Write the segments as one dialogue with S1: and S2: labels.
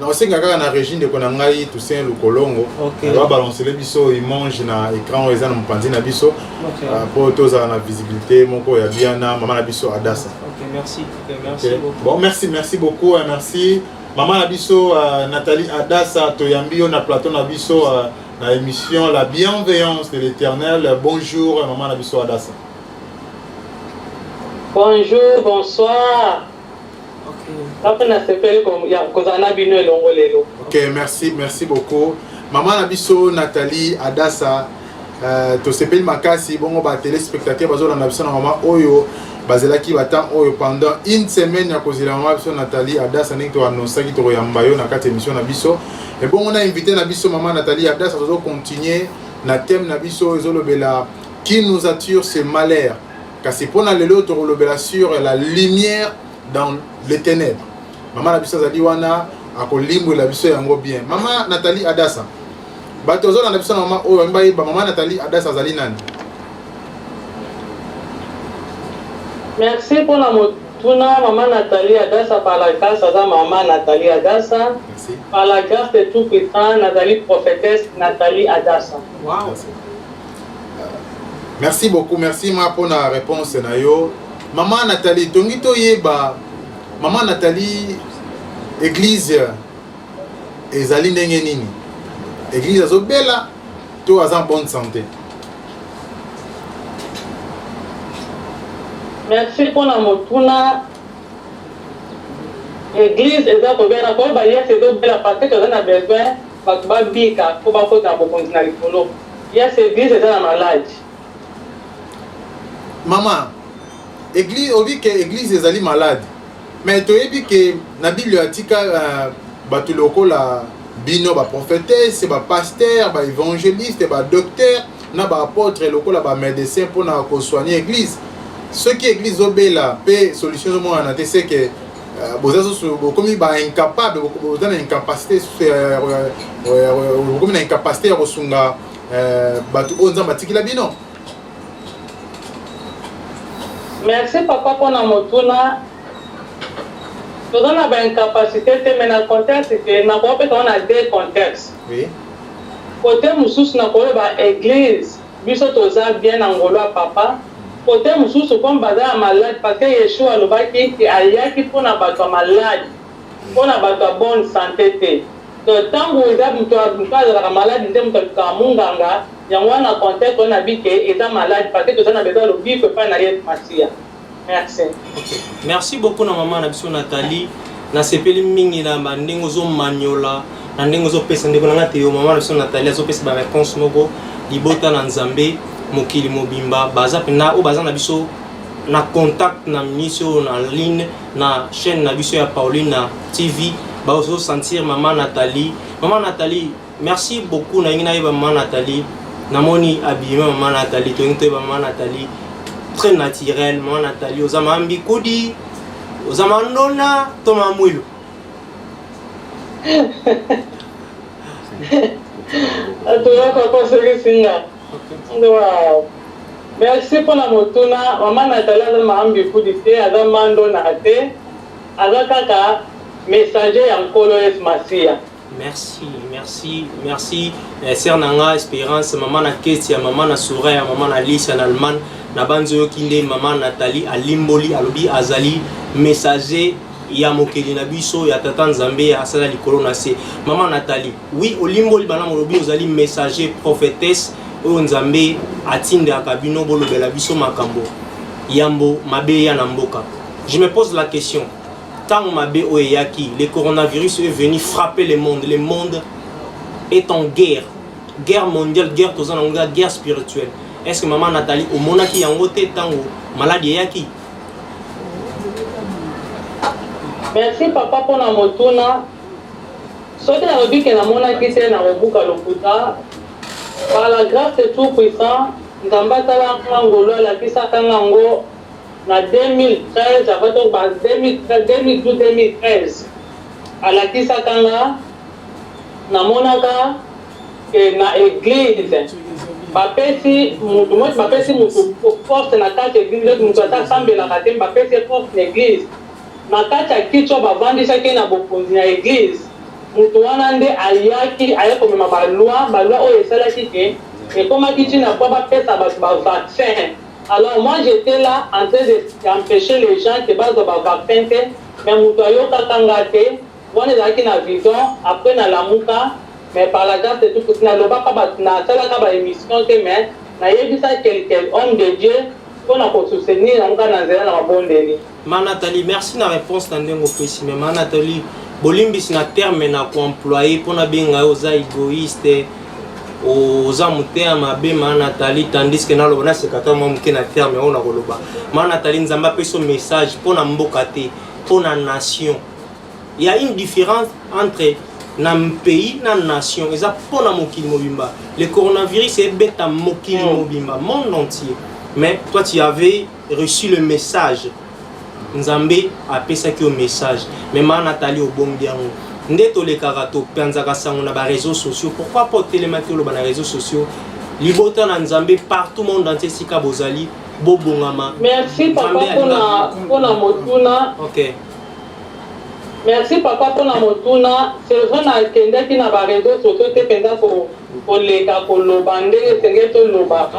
S1: nakosenga kaka na régi ndeko na ngai toussaint lukolongo okay. babalancele
S2: biso
S1: image na écran oyo eza na mopanzi na biso okay. uh, mpo
S2: tozala na
S1: visibilité moko ya bia na mama na biso adasa
S2: okay, merci. Okay, merci okay. Beaucoup.
S1: bon merci merci beaucoup merci mama na biso uh, nathalie adasa toyambi yo na plateau na biso uh, na émission la bienveillance de l'éternel bonjour mama na biso adasa
S3: bonjour bonsoir Nga pe na sepeli kozala
S1: na bino elongo lelo. Ok, merci, merci beaucoup. Maman na biso Nathalie Adassa Euh, tosepeli makasi bongo ba téléspectateur bazolanda biso na mama oyo bazelaki batemp oyo pendant une semaine ya kozela mama biso nathalie adasa ndenge toanonsaki tokoyamba yo na kati ya émission na biso ebongo na invité na biso mama nathalie adasa tozocontinue na thème na biso ezolobela qui nous attire ce malheur kasi mpo na lelo tokolobela sur la lumière dans les ténèbres mama na biso azali wana akolimbwela biso yango bien mama nathalie adasa bato bazolanda biso na mama oyo bambi bayeba mama nathalie adasa azali nani merci
S3: mpona motuna mama nathalie adasa par la grâce aza mama nathalie adasa par la
S1: grâce de
S3: tout puissant nazali prophétesse nathalie adasa
S2: wow.
S1: merci beaucoup merci ma mpo na réponse na yo mama nathalie tongi toyeba mama nathalie église ezali ndenge nini église azobela to aza en bonne santé merci
S3: mpo na motuna église eza kobela mpo bayese ezobela parce que toza na besoin Bato ba bika po ba kota na bokonzi na likolo. Ya se eglise
S1: eza na malade. Maman eglise olobi ke eglise ezali malade mais toyebi ke na bible atika uh, bato lokola bino ba prophetesse ba pasteur ba évangéliste ba docteur na ba apôtre lokola ba médecin mpona kosoigne église soki église obela mpe solution ezomonana te seke Euh, boza susu bokomi ba incapable boza na incapacité bokomi na incapacité ya kosunga euh, bato oyo nzambe atikila bino
S3: merci papa mpona motuna toza na baincapacité te mai na contexte ke nakoya mpe toza na deux contexte
S1: kote
S3: mosusu nakoyeba eglise Biso toza bien na ngolu ya papa cote mususu comme baza ya malade parce que yeshua alobaki que ayaki pona batu ya malade pona batu ya bonne sante te donc tangu eza mutu ya mutu azalaka malade nde mutu alukaka munganga yango wana conte koyena bi que eza malade parce que toza na besoin ya lobiko epai na yesu masiya. Merci. Okay.
S2: Merci beaucoup na maman na biso Nathalie. Nasepeli mingi na ba ndenge ozo maniola, na ndenge ozo pesa ndeko na ngate yo maman na biso Nathalie azo pesa ba réponse moko libota na Nzambe mokili mobimba baza pena o baza na biso na contact na miso na ligne na chaîne na biso ya Pauline na TV bazo sentir maman Nathalie. Maman Nathalie Merci beaucoup nalingi nayeba mama Nathalie namoni abima mama Nathalie tolingi toyeba mama Nathalie très naturel mama Nathalie oza mama mbikudi oza mama ndona to mama mwilu
S3: atolaka kosekisi nga wow. merci mpona motuna mama natali aza maambi kudi te aza mandona te aza kaka messager ya nkolo yesu masiya Merci, merci, merci. Eh, sœur Nanga,
S2: Espérance, maman na Ketia, maman na Soraya, maman na Lisa, na Allemagne, na banzo yo kinde, maman Nathalie, alimboli, alobi, azali, messager, ya mokeli na biso ya tata nzambe ya asala likolo na se mama natali wi olimboli bana molobi ozali messager prophétesse oyo nzambe atindaka bino bolobela biso makambo yambo mabe ya na mboka je me pose la question Tango mabe oyo eyaki, le coronavirus est venu frapper le monde. Le monde est en guerre. Guerre mondiale, guerre toza nango eza guerre spirituelle. Est-ce que maman Nathalie omonaki yango te tango maladi eyaki?
S3: Merci papa mpo na motuna. Soki nalobi ke namonaki te nakobuka lokuta. Par la grâce de tout puissant, Nzambe atalaka ngolu alakisaka ngango Na 2013 avant to ba 2013 2012 2013 alakisaka nga na monaka que na eglise ba pesi mutu moi ba pesi mutu poste na kati eglise neti mutu ata asambelaka te ba pesi ye poste na eglise na kati ya kicho ba vandisaki ye na bokonzi na eglise mutu wana nde ayaki aye komema ba loi ba loi oyo esalaki que ekomaki ti na po ba pesa batu ba vaccin Alors moi j'etais là en train de empecher les gens que bazwa ba vaccin te mais mutu ayokaka nga te wana ezalaki na vision après na lamuka mais par la grace de Dieu puisque na lobaka ba na salaka ba emission te mais na yebisa quelques hommes de Dieu pona ko soutenir nga na nzela na mabondeli. Ma Nathalie, merci
S2: na réponse na ndenge opesi mais ma Nathalie, bolimbisi na terme na koemploye mpo nabenga yo oza egoïste oza motema mabe ma Nathalie tandis que naloba naseka ta mwa moke na terme oyo nakoloba ma Nathalie nzambe apesi message mpo na mboka te mpo na nation ya une différence entre na pays na nation eza mpo na mokili mobimba le coronavirus ebeta mokili mobimba monde entier mais toi tu avais reçu le message nzambe apesaki yo message mais maa natali obombi yango nde tolekaka topanzaka sango na bareseau sociaux pourquoi pas otelemaki oloba na réseau sociaux libota na nzambe partout monde entier esika bozali bobongama merci
S3: papa mpona motuna okay. merci papa mpona motuna c'est vrai nakendaki na bareseau sociaux te mpenza koleka koloba ndenge esengeli tolobaka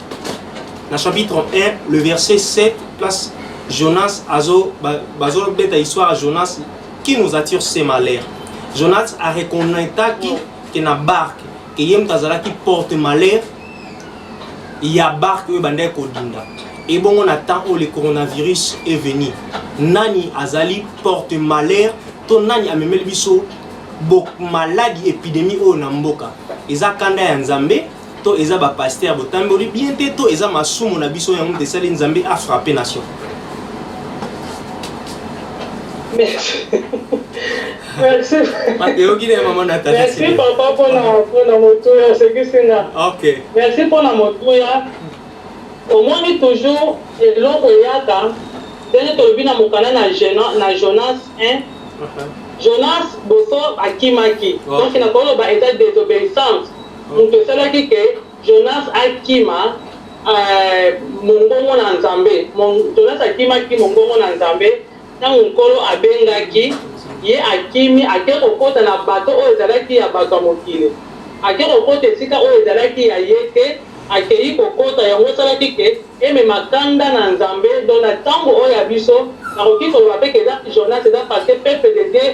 S2: na chapitre 1 le verset 7 place jonas azo bazobeta histoire ya jonas qui nous attire ce malheur jonas areconnaitaki ke na barke ke ye moto azalaki porte malheur ya barke oyo ebandaki kodinda ebongo na temps oyo le coronavirus est venu nani azali porte malheur to nani amemeli biso maladi epidemie oyo na mboka eza kanda ya nzambe to eza ba pasteur botamboli bien te to eza masumu na biso yango tesali nzambe a frappe nation
S3: merci merci eyoki na
S2: mama na tata merci papa mpona
S3: mpona motuya osekisi nga ok merci mpona
S2: motuya
S3: omoni toujours eloko eyaka ndenge tolobi na mokanda na jonas 1 uh-huh. jonas boso akimaki donc nakoloba eza désobéissance Moto esalaki que Jonas akima Mongongo na Nzambe. Jonas akimaki Mongongo na Nzambe ntango Nkolo abengaki ye. Akimi, akei kokota na bato oyo ezalaki ya bato ya mokili. Akei kokota esika oyo ezalaki ya ye te. Akei kokota, yango esalaki que emema kanda na Nzambe. Donc, na ntango oyo ya biso, nakoki koloba mpe que eza Jonas, eza parce que peuple de Dieu,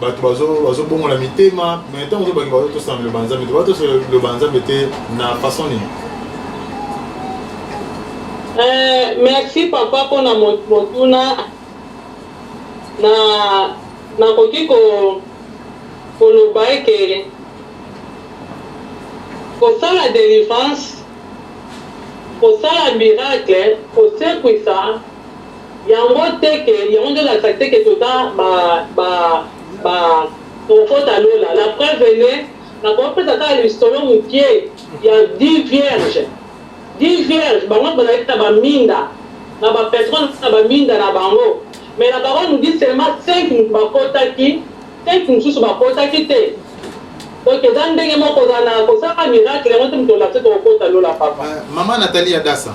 S1: bato bazobongola mitema me ntango ozobaki bazotosana liloba nzambe te batosa liloba nzambe te na façon nini Euh,
S3: merci papa mpo na motuna na nakoki ko koloba eke kosala délivrance kosala miracle kosekwisa Yango te ke yango nde olakisa te ke toza ba ba ba tokokota lola la preuve en est nakoki kopesa kaka lisolo mukie ya dix vierges dix vierges bango nionso bazalaki na ba minda na ba patron na ba minda na bango mais la parole nous dit seulement cinq mutu bakotaki cinq mususu bakotaki te donc eza ndenge moko kozala na kosala miracle yango te mutu olakisa tokokota lola papa. Maman Nathalie
S1: Adassa.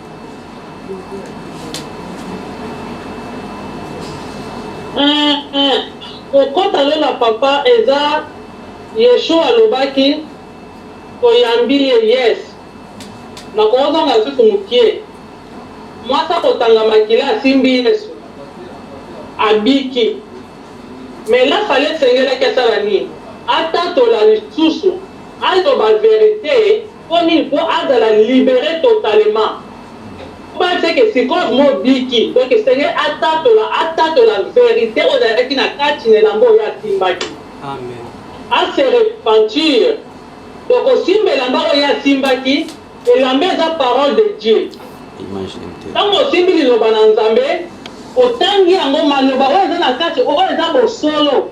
S3: Eh, eh, kokota lola papa eza yeshua alobaki toyambi ye yes nakozonga lisusu mokie mwasi akotanga makila asimbi yesu abiki me lafale esengelaki asala nini atatola lisusu aloba verite Mpo nini? Mpo azala liberer totalement. Mpo bayebisa ye que sikoyo mobiki, donc esengeli atatola, atatola verite oyo ezalaki na kati na elamba oyo ye asimbaki.
S2: A se
S3: repentir. Donc kosimba elamba oyo ye asimbaki, elamba eza parole de Dieu. Ntango osimbi liloba na Nzambe, otangi yango, maloba oyo eza na kati, oyo eza bosolo.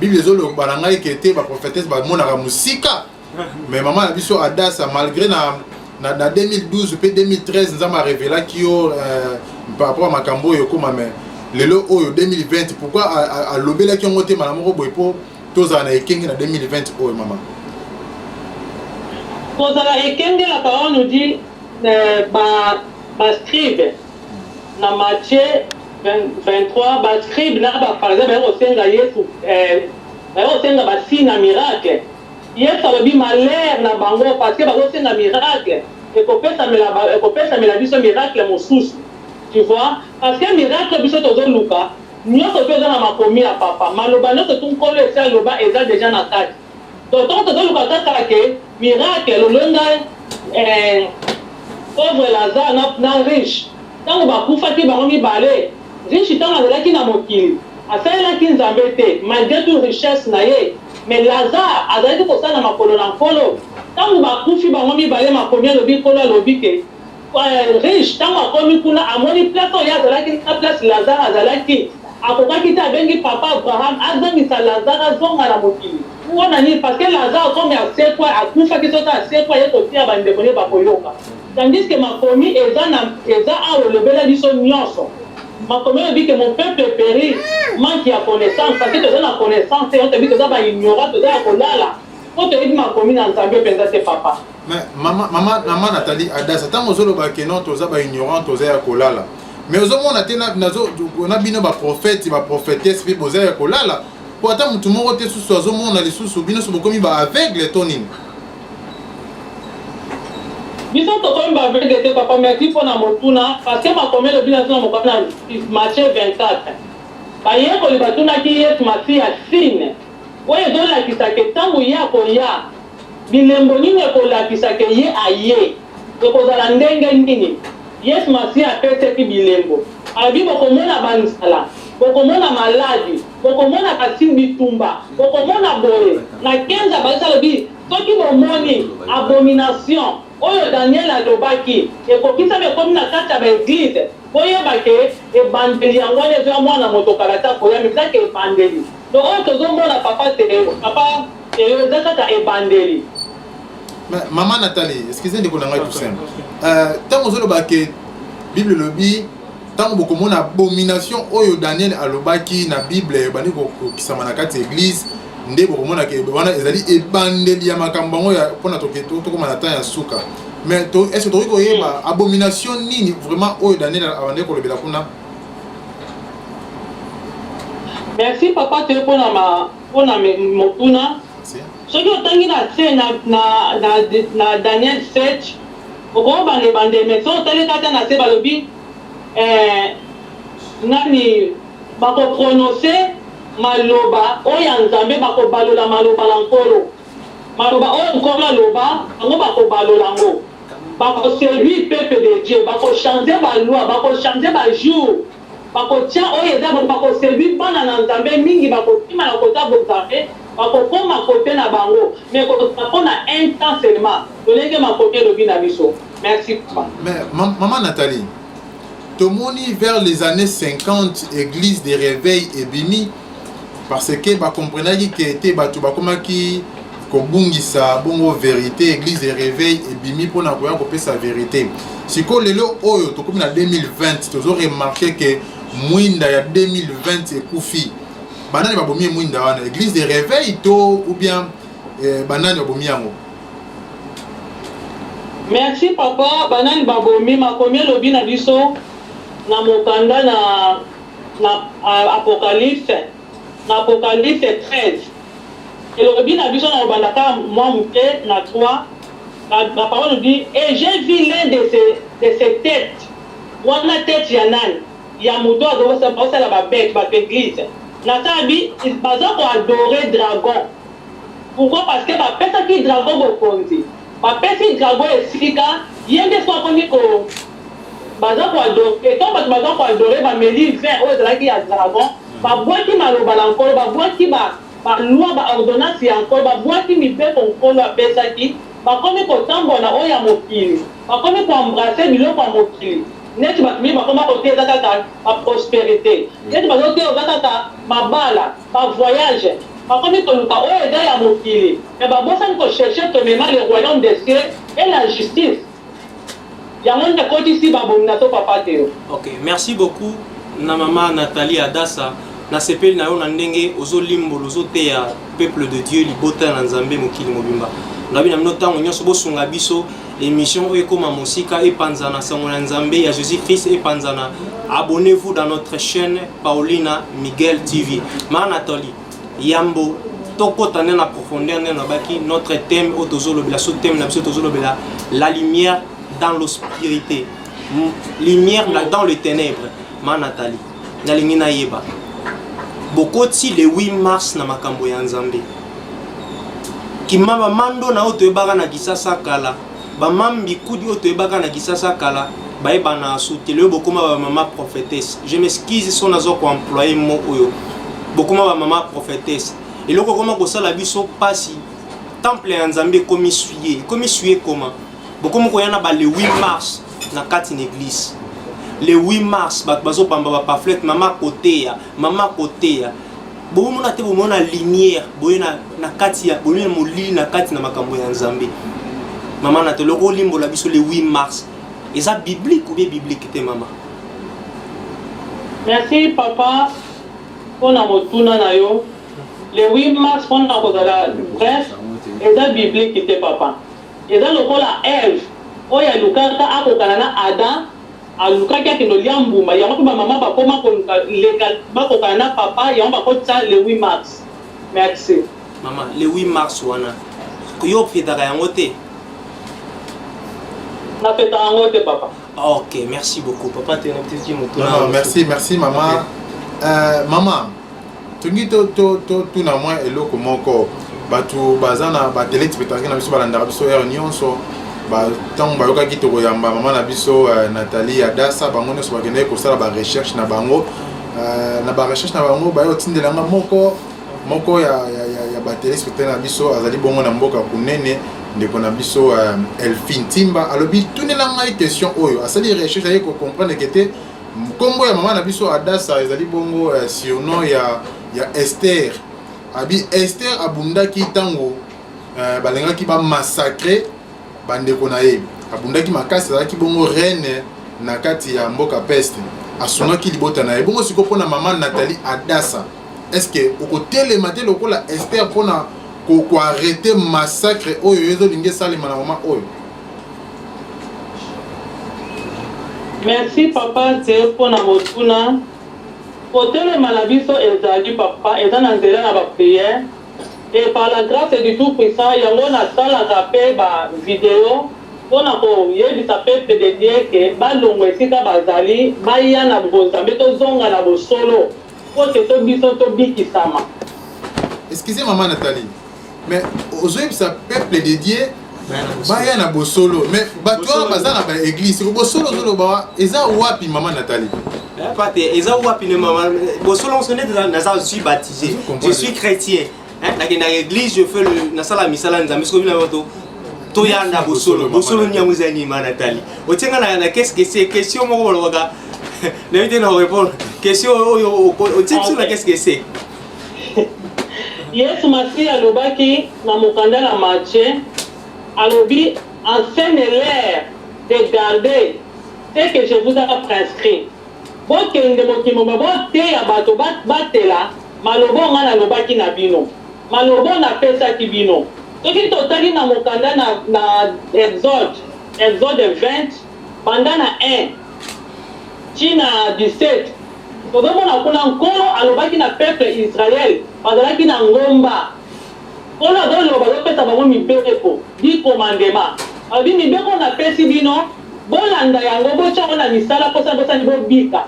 S1: bible ezolomba na ngai ke te baprofetese bamonaka mosika mais mama na biso adasa malgré na na, na 2012 mpe 2013 nzambe arevelaki yo euh, par rapport ya makambo oyo ekoma mais lelo oyo 2020 pourkui alobelaki yango te mala moko boye mpo tozala na ekenge na 2020 oyo mama
S3: kozala ekenge la parole nous dit euh, ba, ba scribe na matie 23 ba scribes na ba pharisains baye kosenga Yesu eh, baye kosenga ba signes na miracle. Yesu alobi malheur na bango parce que bazosenga miracle, ekopesamela ba- ekopesamela biso miracle mosusu. Tu vois? Parce que miracle biso tozoluka nyonso mpe eza na makomi ya papa. Maloba nyonso tu Nkolo esi aloba eza deja na kati. Tonton tozo luka kaka ke miracle lolonga eh pauvre lazare na na riche tango ba kufaki bango mibale riche tango azalaki na mokili asalelaki nzambe te malgre tout richesse na ye mais lazare azalaki kosala na makolo na nkolo tango ba kufi bango mibale makomi alobi nkolo alobi ke Riche tango akomi kuna amoni place oyo ye azalaki na place Lazare azalaki akokaki te abengi papa Abraham azongisa Lazare azonga na mokili pona nini parce que Lazare comme asekua akufaki soki asekua aye koteya ba ndeko naye bakoyoka tandis que makomi eza na eza awa elobela biso nionso makomi elobi que mon peuple perit manque ya connaissance parce que toza na connaissance te yango toyebi toza ba ignorant toza ya kolala po toyebi makomi na Nzambe penza te papa. mais mama
S1: mama mama Nathalie Adassa ntango ozoloba ke non toza ba ignorant toza ya kolala mais ozomona te nazo na bino ba prophète ba prophétesse mpe boza ya kolala mpo ata motu moko te susu azomona lisusu bino so bokomi ba aveugle to nini
S3: biso tokomi ba aveugle te papa merci mpo na motuna parce que makomi elobi na tuna mokana matie 24 bayekoli batunaki yesu masiya sine oyo ezolakisa ke ntango ye akoya Bilembo nini ekolakisa ke ye aye? Ekozala ndenge nini? Yesu Masiya apeseki bilembo. Alobi, Bokomona banzala, bokomona maladi, bokomona kasi bitumba, bokomona boye. Na 15 abakisi alobi, Soki bomoni abomination oyo Daniel alobaki ekokisami ekomi na kati ya ba eglise, boyeba ke ebandeli yango wana ezoya mwana moto kala te akoya, mais eza ke ebandeli. Donc oyo tozo mona papa te papa eyo eza kaka ebandeli.
S1: Mais maman Nathalie, excusez ndeko na ngai tout simple. Euh tango ozo loba ke Bible lobi ntango bokomona abomination oyo daniel alobaki na bible ebandi kokokisama na kati ya eglise nde bokomona ke wana ezali ebandeli ya makambo yango mpona tokoma na temps ya suka mais est ce tokoki koyeba abomination nini vraiment oyo daniel abandaki kolobela kuna
S3: Merci papa toye pona ma pona motuna soki otangi na se na na na, na Daniel 7 okomo banda ebande mais soki otali kata na se balobi eh, nani bakoprononce maloba oyo ya Nzambe, bakobalola maloba na Nkolo, maloba oyo Nkolo aloba, bango bakobalola yango. Bako seduire peuple de Dieu, bako changer ba lois, bako changer ba jours, bakotia oyo eza bon, bako seduire bana na Nzambe, mingi bakokima na koza Bonzambe, bakokoma cote na bango, mais ekozala pona un temps seulement, lolenge makomi elobi na biso. Merci papa. Mais
S1: maman Nathalie, tomoni vers les annees 50 eglise de reveil ebimi, parce que ba comprenaki que te bato bakomaki kobungisa bongo verite église de réveil ebimi mpo na koya kopesa verite sikoyo lelo oyo tokomi na 2020 tozo remarke ke mwinda ya 2020 ekufi banani babomi mwinda wana église de réveil to ou bien eh, banani babomi yango
S3: merci papa banani babomi makomi elobi na biso na mokanda na Na Apocalypse, na Apocalypse 13, elobi na biso, nakobanda kaka mwa moke na 3, ba, ba parole dit, et j'ai vu l'un de ces, de ces tetes, wana tete ya nani? Ya moto oyo azo, bazosala ba bete, bato eglise, na sala bi, baza ko adorer dragon, pourquoi? Parce que bapesaki dragon bokonzi, bapesi dragon esika, ye nde sikoyo akomi ko. Baza ko adore et quand batu baza ko adore ba meli vin oyo ezalaki ya dragon, ba buaki maloba na Nkolo, ba buaki ba ba lois, ba ordonnances ya Nkolo, ba buaki mibeko Nkolo apesaki, bakomi ko tambola na oyo ya mokili, bakomi ko embrasser biloko ya mokili, neti batu mingi bakomi ba ko teya eza kaka ba prosperite, neti bazo teya oza kaka mabala, ba voyages, bakomi koluka oyo eza ya mokili mais babosani ko chercher premierement le royaume des cieux et la justice. Yango nde akotisi ba bonda to papa Theo. Ok merci beaucoup
S2: na mama Nathalie Adasa na sepeli na yo na ndenge ozo limbola ozo teya peuple de Dieu libota na Nzambe mokili mobimba nabi na bino ntango nyonso bosunga biso émission oyo ekoma mosika epanzana sango na Nzambe ya Jésus Christ epanzana abonnez-vous dans notre chaîne Paulina Miguel TV ma Nathalie Yambo tokota nde na profondeur nde nabaki notre thème oyo tozolobela so thème na biso tozolobela la lumière dans l'obscurité lumière na dans le ténèbre ma nathalie nalingi nayeba bokoti le 8 mars na makambo ya nzambe kimama mando na oyo toyebaka na kisasa kala Ba mam bikudi oyo toyebaka na Kisasa kala bayeba na asute lelo bokoma ba mama prophetesse. Je m'excuse son azo ko employer mot oyo. Bokoma ba mama prophetesse. Eloko koma kosala biso pasi temple ya Nzambe ekomi suye. Ekomi suye koma. Bokomi koya na ba le 8 mars na kati na eglise. Le 8 mars bato bazobamba ba pamphlet mama koteya, mama koteya. bokomona te bomona lumière boye na, na kati ya boye molili na kati na makambo ya nzambe mama na toloko olimbola biso le 8 mars eza biblique ou bien biblique te mama
S3: merci papa mpo na motuna na yo le 8 mars mpo na kozala bref eza biblique te papa eza lokola eve oyo alukaka akokana na adam Alukaki akende olia mbuma yango pe ba maman ba koma koluka leka ba kokana na papa yango ba kotisa le 8 mars. Merci. Maman le
S2: 8 mars wana yo ofetaka yango te?
S3: Na fetaka yango te papa. Ok merci
S2: beaucoup papa te na tiki motuna. Non non merci merci
S1: maman. Okay. Euh, maman tolingi totuna mwa eloko moko bato baza na batele tipetarke na biso balandaka biso heure nyonso ntango bayokaki tokoyamba mama na biso eh, nathalie adasa bango nyonso bakendaki kosala barecherche na bango eh, na barecherche na bango baye kotindela nga moko moko ya, ya, ya, ya batele spectacle na biso azali bongo na mboka kunene ndeko na biso eh, elfin timba alobi tunela ngai question oyo asali recherche aye kocomprendre ke te Nkombo ya mama na biso Adasa ezali bongo ya surnom ya, ya Esther. Abi Esther abundaki ntango eh, balingaki bamassacre bandeko na ye. Abundaki makasi, azalaki bongo reine na kati ya mboka peste. Asungaki libota na ye. Bongo sikoyo mpo na mama Nathalie Adasa, eske okotelema te lokola Esther mpo na koarrete massacre oyo ezolingi esalema na mama oyo?
S3: Merci papa Tse mpo na motuna. Kotelema na biso ezali papa eza na nzela na ba prière et par la grace du tout puissant yango na salaka pe ba video mpo na ko yebisa peuple de Dieu que ba longwa esika bazali baya na bonzambe tozonga na bosolo mpo que to biso to bikisama.
S1: Excusez maman Nathalie, mais ozoyebisa peuple de dieu baya na bosolo mais bato wana baza na baeglise bosolo ozoloba eza wapi mama natali eh, pate
S2: eza wapi ne mama bosolo moso nde naza suis baptisé je suis chrétien eh, nakendaka église je fais nasala misala nzambe soki bina bato toyanda bosolo bosolo nyango eza nini ma natali otie nga na keskese question moko balobaka nayebi te na korepondre question oyo otie biso na keskese
S3: Yesu Masiya alobaki na mokanda na Matthieu, alobi, Enseigne leurs de garder ce que je vous a prescrit. Bokende mokili mobimba, boteya bato babatela maloba oyo ngai nalobaki na bino, maloba oyo napesaki bino. Soki totali na mokanda na Exode, Exode 20, Banda na un ti na 17, tozo mona kuna Nkolo alobaki na peuple Israël, bazalaki na ngomba. Nkolo azo loba, azo pesa bango mibeko, dix commandements. Alobi mibeko oyo na pesi bino, bo landa yango, bo tia yango na misala mpo soki bo sali bo bika.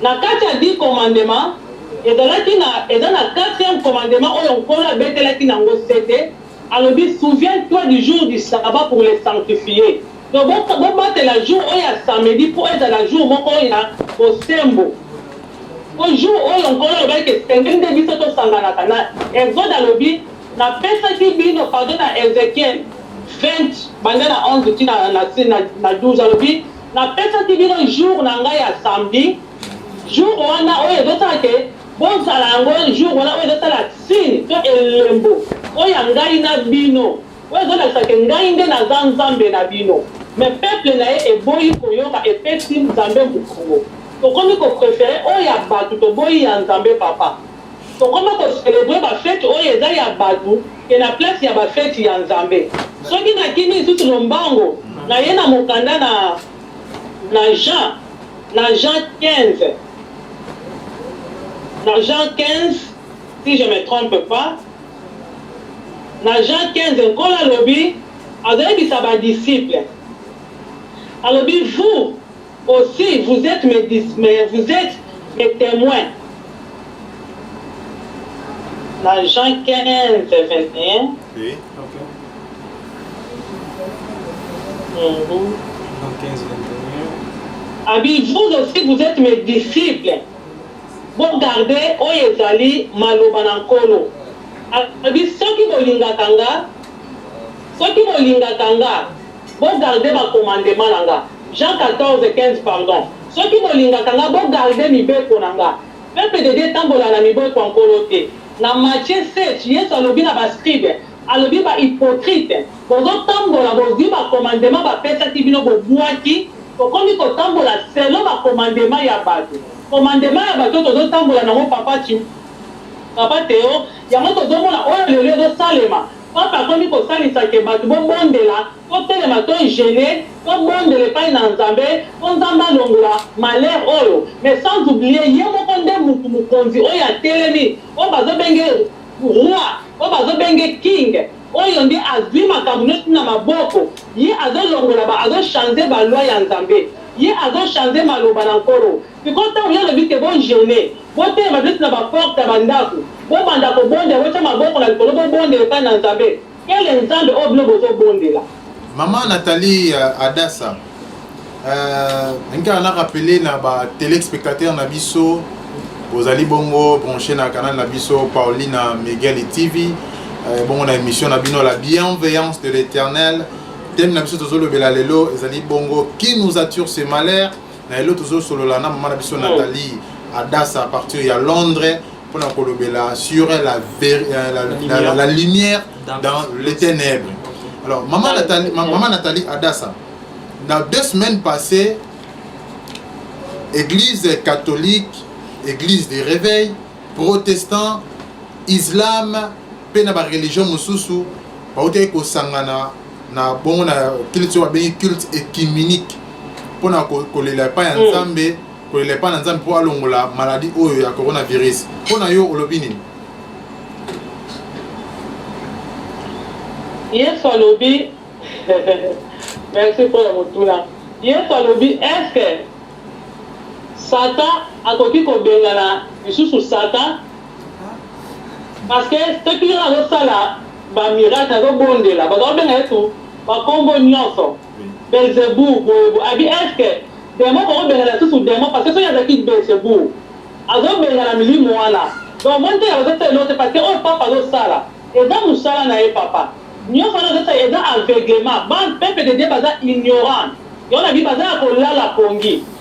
S3: Na kati ya dix commandements, ezalaki na, eza na quatrième commandement oyo Nkolo abetelaki n'ango sete, Alobi souviens toi du jour du sabbat pour les sanctifier donc bo bo batela jour oyo ya samedi po ezala jour moko ya bosembo po jour oyo nkolo alobaki ke esengeli nde biso to sanganaka na exode alobi na pesaki bino pardon na ezekiel 20 banda na 11 ti na na na na 12 alobi na pesaki bino jour na ngai ya samedi jour wana oyo ezo sala ke Bozala yango un jour wana oyo ezosala signe to elembo oyo ya ngai na bino oyo ezolakisa ke ngai nde naza Nzambe na bino mais peuple na ye eboyi koyoka epesi Nzambe mukongo tokomi ko prefere oyo ya batu toboyi ya Nzambe papa tokoma ko celebrer ba fete oyo eza ya batu ke na place ya ba fete ya Nzambe soki nakimi lisusu lombango naye na mokanda na na Jean Na Jean 15, na Jean 15, si je me trompe pas, na Jean 15, Nkolo alobi, azoyebisa ba disciples, alobi, Vous aussi, vous etes mes, vous etes mes temoins. Na
S2: Jean 15, 21. Abi, vous aussi
S3: vous etes mes disciples, bo garde oyo ezali maloba na Nkolo. Abi, soki bolingaka nga, soki bolingaka nga. Bo garder ba commandement na nga. Jean 14, 15 pardon Soki bolingaka nga bo garder mibeko na nga. Peuple de Dieu etambola na miboko ya Nkolo te. Na Matthieu 7, Yesu alobi na ba scribes, alobi ba hypocrites, bozo tambola bozui ba commandement ba pesaki bino bo buaki, tokomi ko tambola selon ba commandement ya batu. Commandement ya batu oyo tozo tambola na ngo papa Tshi, papa Theo, yango tozo mona oyo lelo ezo salema. Pape akomi kosalisa que bato bobondela, totelema to jeune, tobondela epai na Nzambe po Nzambe alongola malheur oyo, mais sans oublier ye moko nde mutu mokonzi oyo atelemi, oyo bazo benge Roi, oyo bazo benge King, oyo nde azui makambo nionso na maboko, ye azo longola ba azo chanze ba lois ya Nzambe, ye azo chanze maloba na Nkolo. Sikoyo ntango Ye alobi te bo jeune, botelema neti na ba porte ya ba ndako, bobanda kobondela, botia maboko na likolo, bobondela epai na Nzambe, quelle Nzambe oyo bino bozobondela? Maman
S1: Nathalie euh, Adassa, euh, nkaka na rappeler na ba telespectateurs na biso bozali bongo branche na canal na biso Paulina Miguel TV euh, bongo na émission na bino la bienveillance de l'éternel thème na biso tozolobela lelo ezali bongo qui nous attire ce malheur na lelo tozosolola na mama na biso nathalie adasa à partir ya londres mpona kolobela sur la, ver, euh, la, la, la, la lumière dans les ténèbres alors mama nathalie, mama nathalie adasa na deux semaines passées église catholique église des réveils protestant islam mpe na bareligion mosusu bautaki kosangana na bongo na culte oyo babengi culte écuménique mpo na kolela epai ya nzambe kolela epai na nzambe mpo alongola maladi oyo ya coronavirus mpo na yo olobi nini
S3: yesu alobi merci mpo na motuna yesu alobi eske satan akoki kobengana lisusu satan Parce que soki ye azo sala ba miracle azo bondela baza kobenga yesu ba kombo nionso belzebou boye boye abi est ce que demon boko bengana lisusu demon parce que soki azalaki belzebou azo bengana milimo wana donc omoni te azo sala eloko te parce que oyo pape azo sala eza musala na ye papa nionso wana azo sala eza aveuglement bana peuple de Dieu baza ignorant yango na bi baza ya kolala pongi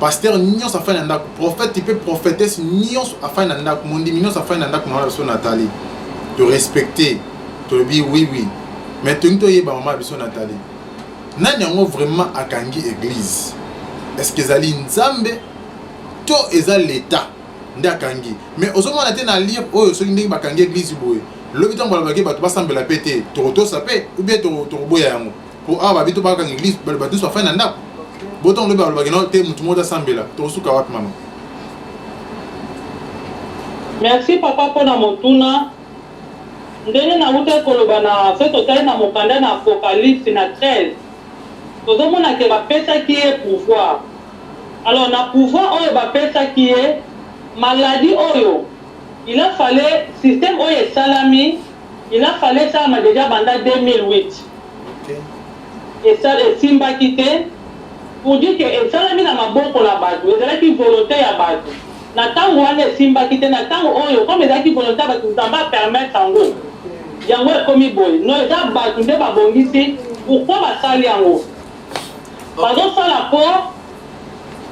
S1: pasteur nyonso afandi na ndako prophète mpe prophétesse nyonso afandi na ndako mondimi nyonso afandi na ndako mama na biso natali torespecte tolobi oui oui mais tolingi toyeba mama na biso natali nani yango vraiment akangi église est-ce que ezali nzambe to eza l'état nde akangi mais ozomona te na lire oyo soki ndenge bakangi église boye lobi ntango balobaki bato basambela mpe te tokotosa mpe ou bien tokoboya yango po awa babi tobakaka l'église bato nyonso bafai na ndako botongo lobi balobaki no te motu moko tasambela tokosuka wapi mama
S3: merci papa mpo na motuna ndenge nautaki koloba na soki totali na mokanda na apocalypse na 13 tozomona ke bapesaki ye pouvoir alors na pouvoir oyo bapesaki ye maladi oyo il a fale système oyo esalami Il a fallu esalama dejà banda 2008 esala esimbaki te pour dire que esalami na maboko na batu ezalaki volonte ya batu na tango wana esimbaki te na tango oyo comme ezalaki volonte ya batu Nzambe a permettre yango yango ekomi boye non eza batu nde ba bongisi pourquoi basali yango bazo sala po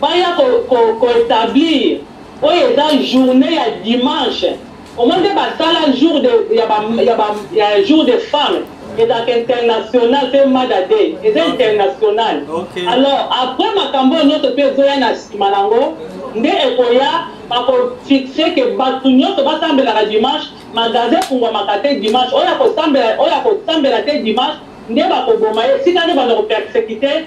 S3: baya ko ko ko etablir oyo eza journee ya dimanche Omoni te ba sala jour de ya ba ya ba ya jour de femme ezalaka international pe mada day eza international alors après makambo oyo nionso pe ezoya na sima nango nde ekoya bako fixe ke batu nionso ba sambelaka dimanche magasin efungwamaka te dimanche oyo ako sambela oyo ako sambela te dimanche nde bako boma ye esika nde banda ko persecute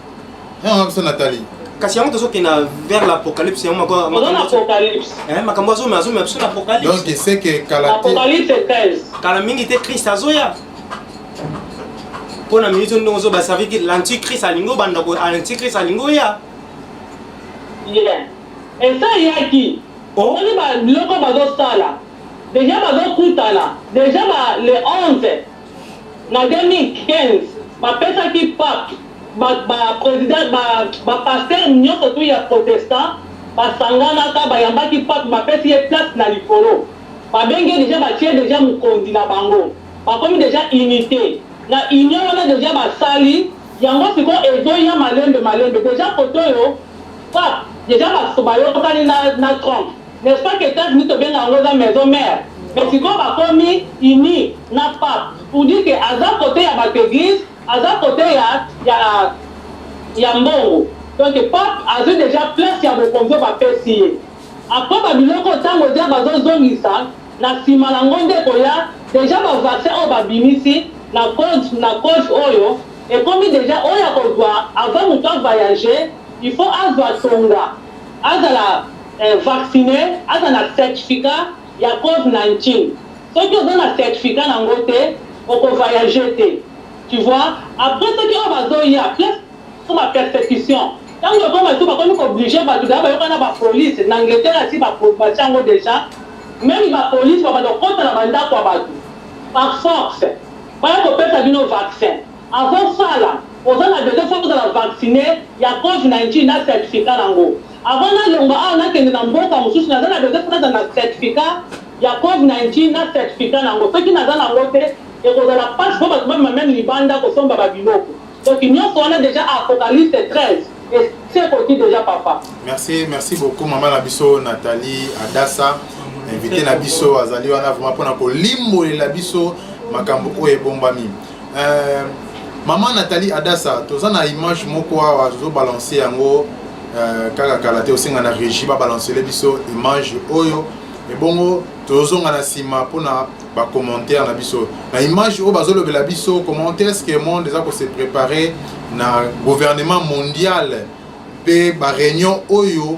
S1: Yango biso Nathalie. Kasi yango tozokende
S2: vers l'apocalypse yango mako makambo apocalypse. Eh makambo azomema azomema biso na apocalypse. Donc c'est que kala
S1: te. Apocalypse 13.
S3: Kala mingi te Christ
S2: azoya. Pona minute ndongo zo ba servir l'antichrist alingo banda ko l'antichrist alingo ya. Yeah.
S3: Et ça yaki. Oh. Oni ba loko bazosala. Deja bazokutana. Deja ba le 11 Na 2015, bapesaki pape ba ba presidents ba ba pasteurs nionso tout ya protestants basanganaka bayambaki pape bapesi ye place na likolo babengi ye dejà batie dejà mokonzi na bango bakomi dejà unite na union wana dejà basali yango sikoyo ezoya malembe malembe dejà kotoyo pape dejà bayokani na na Trump N'est ce pas que Etats Unis tobenga yango eza maison mère? Mais sikoyo bakomi unis na pape pour dire que aza cote ya batu eglise aza cote ya ya ya mbongo donc pape azui dejà place ya bokonzi oyo bapesi ye après ba biloko oyo tango eza bazozongisa na sima na ngo nde ekoya dejà ba vaccin oyo babimisi na cause na cause oyo ekomi dejà oyo akozwa avant moto a voyager il faut azwa tonga azala vaccine aza na certificat ya cove 19 soki oza na certificat na ngo te oko vayage te tu vois après soki oyo bazo ya place ko ba persecution tango ekoma soki bakomi ko oblige batu deja bayoka na ba police na Angleterre asi ba batia yango deja meme ba police ba banda kokota na ba ndaku ya batu par force baya kopesa bino vaccin Avant sala oza na besoin faut ozala vaccine ya cov 19 na certificat na ngo avant na longwa awa na kende na mboka mususu naza na besoin faut nazala na certificat ya cov 19 na certificat na ngo soki naza na ngo te ekozala pasi po batu bamema meme libanda kosomba ba biloko donc nionso wana dejà apocalypse 13 esi ekoti dejà papa. Merci merci beaucoup
S1: maman na biso Nathalie Adassa invité na biso azali wana vraiment pona kolimbolela biso makambo oyo ebombami. Euh, maman Nathalie Adassa, toza na image moko awa zo balancer yango euh, kaka kala te osenga na régie ba balancer biso image oyo ebongo tozonga na nsima mpona bacommentaire na biso na image oyo bazolobela biso comment est ce que monde eza kose prépare na gouvernement mondial mpe baréunion oyo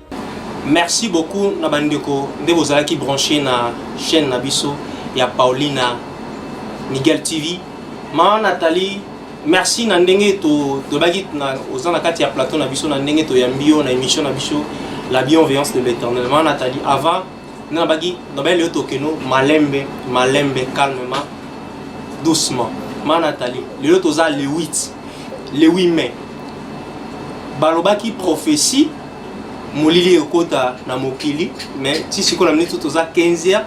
S4: Merci
S2: beaucoup na bandeko nde bozalaki branche na chaîne na biso ya Paulina Miguel TV. Ma Nathalie, merci na ndenge to tobaki na oza na kati ya plateau na biso na ndenge to yambi yo na émission na biso la bienveillance de l'Éternel. Ma Nathalie, avant na baki na belle to keno malembe malembe calmement doucement. Ma Nathalie, lelo toza le 8 le 8 mai balobaki prophétie molili ekota na mokili mais ti sikoyo na minute toza 15 heures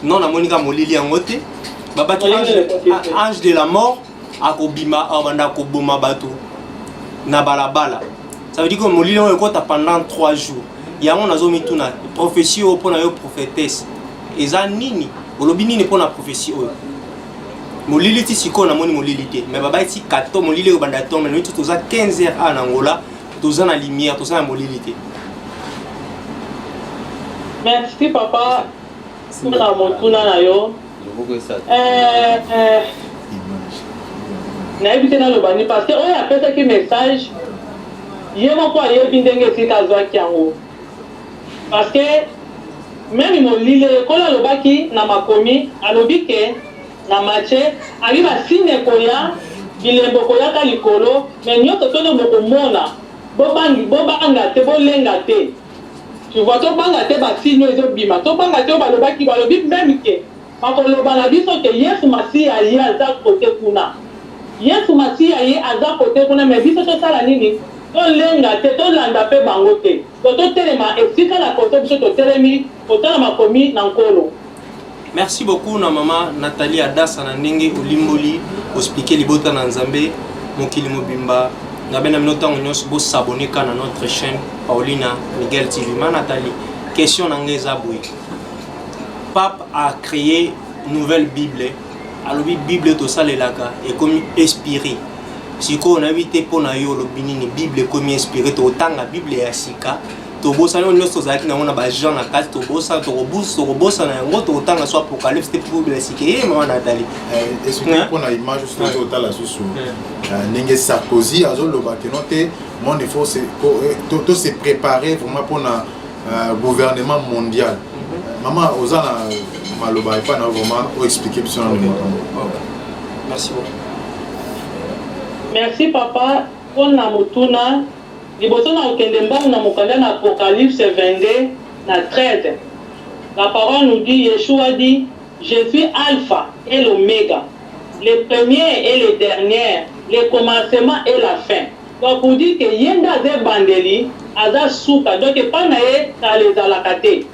S2: non namoni kaka molili yango te babaki ange de la mort akobima abanda koboma bato na balabala ça veut dire que molili yango ekota pendant 3 jours yango nazomituna prophetie oyo mpo na yo prophétesse eza nini olobi nini mpo na prophetie oyo molili ti sikoyo namoni molili te mais babaki kato molili oyo banda tonga nini toza 15 heures a na angola toza na lumière toza na molili te
S3: merci papa mpona motuna na yo eh, eh. nayebi te naloba nini parce que oyo apesaki message ye moko ayebi ndenge esika azwaki yango parce que meme molili ekolo alobaki na makomi alobi ke Na mache abi ba signe ekoya bilembo ekoya ka likolo mais nioso to nde boko mona bo bangi bo banga te bo lenga te tu vois to banga te ba signe oyo ezo bima to banga te oyo ba lobaki ba lobi meme que ba ko loba na biso que yesu masiya ye aza cote kuna yesu masiya ye aza cote kuna mais biso to sala nini to lenga te to landa pe bango te to to telema esika na poto biso to telemi Kotala makomi na Nkolo. Merci
S2: beaucoup na mama Nathalie Adassa na ndenge olimboli ospike libota na Nzambe mokili mobimba na bena mino ntango nyonso bo s'abonner ka na notre chaîne Paulina Miguel TV ma Nathalie question na ngai eza boye pape a créé nouvelle bible alobi bible tosalelaka ekomi espire sikoyo nayebi te mpo na yo olobi nini bible ekomi espire tokotanga bible ya sika tobosana oyo nyonso tozalaki nango na bajean na kati tobosana tokobosana yango tokotanga so apocalypse te publesike ye mama natali
S1: mpona image oso toki otala susu ndenge sarkozy azoloba keno te monde il faut to se préparer vraiment mpona euh, gouvernement mondial mhm. mama oza na maloba epai na vraiment oexplike biso na makambo merci beaucoup merci papa
S3: mpona motuna Liboso na kokende mbangu na mokanda na Apocalypse 22, na 13, la parole nous dit, Yeshua dit, Je suis Alpha et l'Omega, le premier et le dernier, le commencement et la fin. Donc pour dire que ye nde aza ebandeli, aza suka, donc epai na ye kala ezalaka te.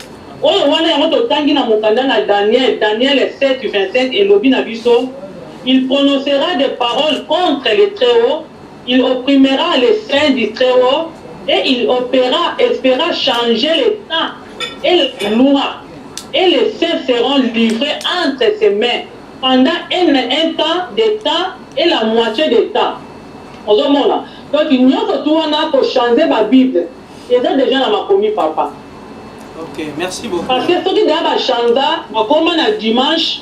S3: Oyo wana yango totangi na mokanda na Daniel, Daniel 7, 25, elobi na biso, Il prononcera des paroles contre le Très-Haut, Il opprimera les saints du Très Haut et il opera et fera changer le temps et la loi, et les saints seront livres entre ses mains pendant un un temps de temps et la moitie de temps. Ozo mona? Donc nionso tout wana ko changer ba bible eza dejà na makomi papa. Ok, merci beaucoup.
S2: Parce
S3: que soki dejà ba changea bakoma na dimanche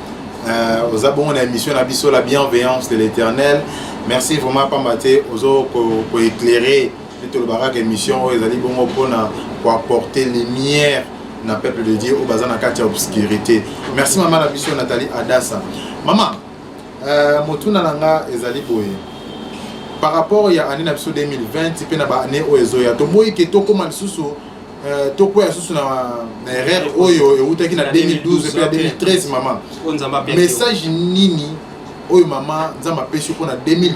S1: Euh, oza bongo na émission na biso la bienveillance de l'éternel merci vraiment pamba te ozo koéclaire nde tolobaka kaka émission oyo ezali bongo mpona koapporter lumière na peuple de dieu oyo baza na kati ya obscurité merci mama na biso nathalie adasa mama euh, motuna na nga ezali boye par rapport ya année na biso 2020 mpe na baannée oyo ezoya toboyi ke tokóma lisusu Euh, tokwea lisusu na erreur oyo ewutaki na 2012 mpe na 2013 mama message nini oyo mama nzambe apesi mpo na 2020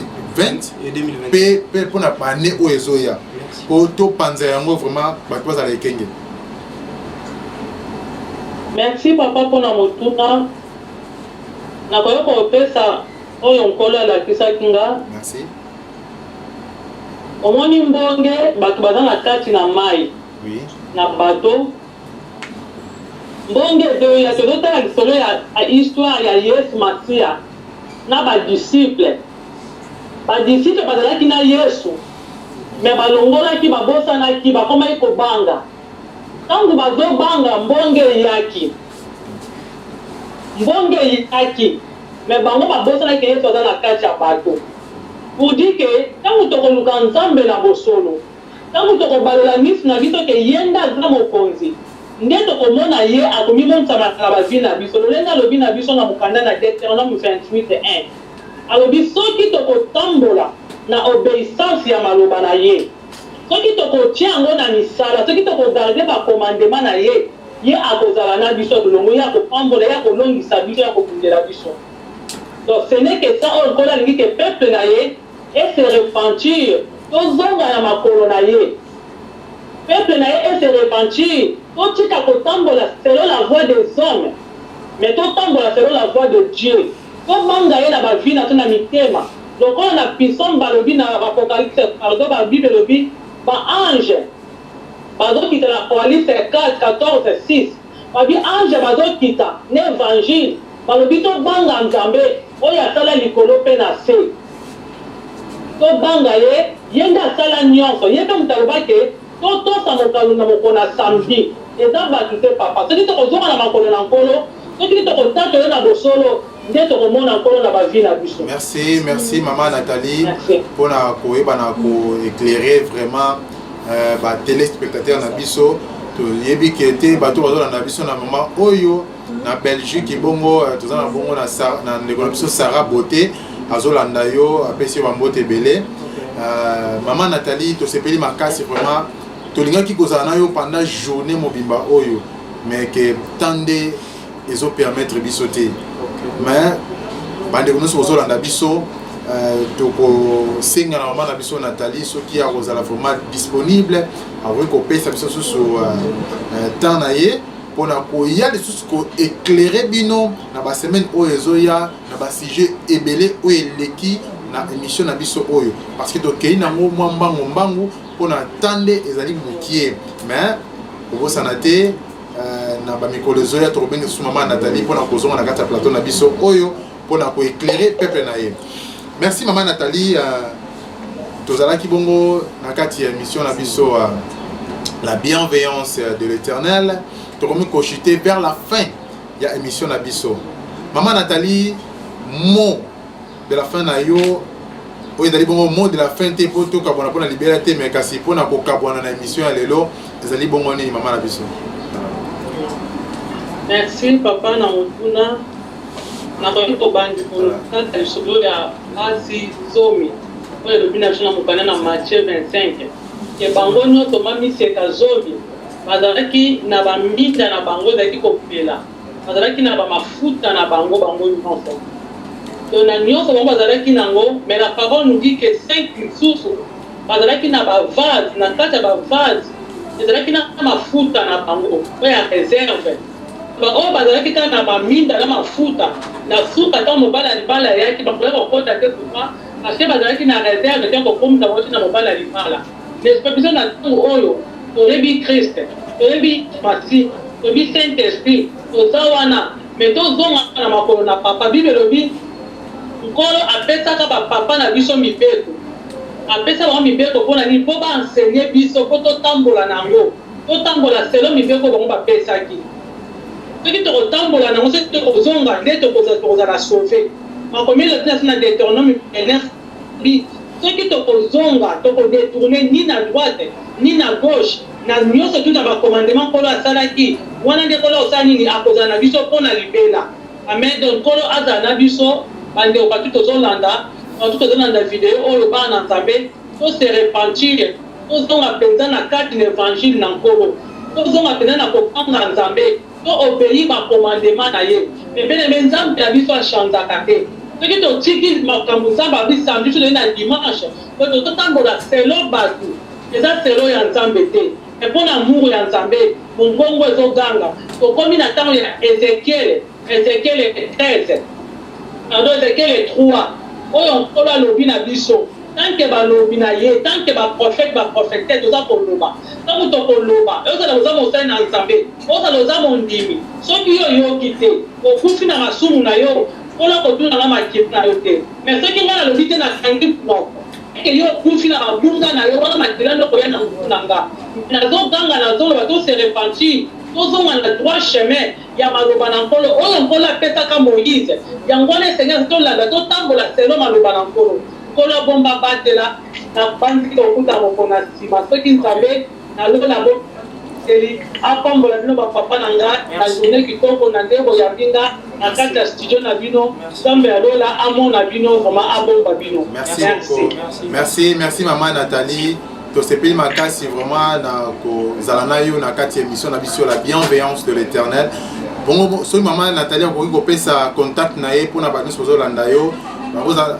S1: mpe
S2: mpe mpo na bane
S1: oyo ezoya mpo topanza yango vraiment bato bazala ekenge merci
S3: papa mpo na motuna nakoki kopesa oyo nkolo alakisaki nga merci Omoni mbonge batu baza na kati na mayi na
S1: bateau
S3: mbonge ezoya tozo tala lisolo ya histoire ya yesu masiya na ba disciple ba disciple bazalaki na yesu mais balongolaki babosanaki bakomaki kobanga tangu bazo banga mbonge eyaki mbonge eyaki mais bango babosanaki yesu aza na kati ya bateau Pour dire que tango toko luka Nzambe na bosolo, tango toko balola misu na biso que ye nde aza mokonzi, nde toko mona ye ako mimonisa na ba vie na biso, lolenge alobi na biso na mokanda na Deuteronome 28, 1. Alobi soki toko tambola na obeissance ya maloba na ye, soki toko tie yango na misala, soki toko garder ba commandements na ye, ye ako zala na biso elongo, ye ako pambola, ye ako longisa biso, ye ako bundela biso. Donc ce n'est que ça oyo nkolo alingi que peuple na ye e se repentir tozonga na makolo na ye peuple na ye e se repentir totika kotambola selon la voie des hommes mais totambola selon la voie de Dieu tobanga ye na ba vie na biso na mitema lokola na bison balobi na apocalypse pardon ba bible elobi ba anges bazokita na apoalypse 4 14 6 Babi ange bazo kita na evangile balobi to banga nzambe oyo asala likolo pe na se to banga ye ye nde asala nionso ye pe moto aloba ke to tosa mokalo na mokona samedi eza batu te papa soki toko zonga na makolo na nkolo soki toko tatola na bosolo nde tokomona nkolo na bavi na biso merci merci mama
S1: nathalie mpona koyeba na koeclaire vraiment euh, batelespectateur na biso toyebi ke te bato bazolanda biso na mama oyo na belgique ebongo euh, toza na bongo na ndeko na biso sara beauté azolanda yo apesi yo bambote ebele euh, mama nathalie tosepeli makasi vraiment tolingaki kozala na yo pendant journée mobimba oyo mais ke temps nde ezo permettre biso te mais bandeko nyonso bozolanda biso euh, tokosenga na mama na biso nathalie soki akozala vraiment disponible akoki kopesa biso susu euh, euh, temps na ye mpona koya lisusu koeclaire bino na basemaine oyo ezoya na basujet ebele oyo eleki na émission na biso oyo parce que tokei nango mwa mbangu mbangu mpona temps nde ezali mokie mais kobosana te Euh, na bamikolo ezoya tokobenga susu mama nathalie mpo na kozonga na kati ya plateau na biso oyo mpo na koeclaire peuple na ye merci mama nathalie euh, tozalaki bongo na kati ya émission na biso euh, la bienveillance de l'éternel tokomi kochute vers la fin ya émission na biso mama nathalie mot de la fin na yo oyo ezali bongo mot de la fin te mpo tokabwana mpo na libela te mai kasi mpo na kokabwana na émission ya lelo ezali bongo nini mama na biso merci
S3: papa na motuna nakoki kobandi kotata lisolo ya basi zomi oyo elobi na biso na mokanda na matthieu 25 ke bango nyonso mamiseka zomi bazalaki na baminda na bango ezalaki kopela Bazalaki na ba mafuta na bango bango nionso donc na nionso bango bazalaki nango mais la parole nous dit que cinq misusu bazalaki na ba vase na kati ya ba vase ezalaki na mafuta na bango oyo ya reserve baoyo bazalaki kaka na maminda na mafuta na suka ntango mobali ya libala ayaki bakoya kokota te kufa parce que bazalaki na reserve te kokomisa bango ti na mobali ya libala N'est-ce pas biso na tango oyo toyebi Christ, toyebi Masiya, toyebi Saint Esprit, toza wana mais tozonga na makolo na Papa. Bible elobi Nkolo apesaka ba papa na biso mibeko, apesa bango mibeko mpo na nini? Mpo ba enseigner biso, mpo totambola na yango, totambola selon mibeko bango bapesaki. Soki tokotambola na yango, soki tokozonga nde tokozala sauve. Makomi elobi na Deuteronome 29 Bis soki toko zonga toko detourner ni na droite ni na gauche na nioso tout na ba commandement nkolo asalaki wana nde nkolo akosala nini akozala na biso po na libela amen donc nkolo azala na biso ba ndeko partout tozo landa partout tozo landa video oyo bana na nzambe to se repentir tozonga penza na kati na evangile na nkolo tozonga penza na ko banga nzambe To obeyi ba commandement na ye pembeni mais nzambe na biso a changaka te soki totiki makambu nzambe alobi samedi biso toye na dimanche donc tozo tambola selon batu eza selon ya nzambe te mais pona amour ya nzambe mongongo ezo ganga tokomi na tango ya ezechiel ezechiel 13 pardon ezechiel 3 oyo nkolo alobi na biso tant que balobi na ye tant que ba prophete ba prophetesse toza koloba tango tokoloba ekozala oza mosali na nzambe. Ozala oza mondimi soki yo oyoki te okufi na masumu na yo nkolo akotuna nga makila na yo te mais soki nga nalobi te na kangi munoko eke yo okufi na mabunga na yo wana makila nde okoya na mutu na nga mais nazo ganga nazo loba to se repentir tozonga na droit chemin ya maloba na nkolo oyo nkolo apesaka moise yango wana esengeli tolanda totambola selon maloba na nkolo nkolo abomba abatela na banzi kokuta mokona sima soki nzambe Na lola bo seli a pambola bino ba papa na nga na journee kitoko na nde bo yambi nga na kati ya studio na bino nzambe ya lola a mona bino vraiment a bomba bino merci merci
S1: merci, merci maman Nathalie tosepeli makasi vraiment na kozala na yo na kati ya émission na biso la bienveillance de l'éternel bongo soki mama natali akoki kopesa contact na ye mpona bato nyonso bazolanda yo bakozala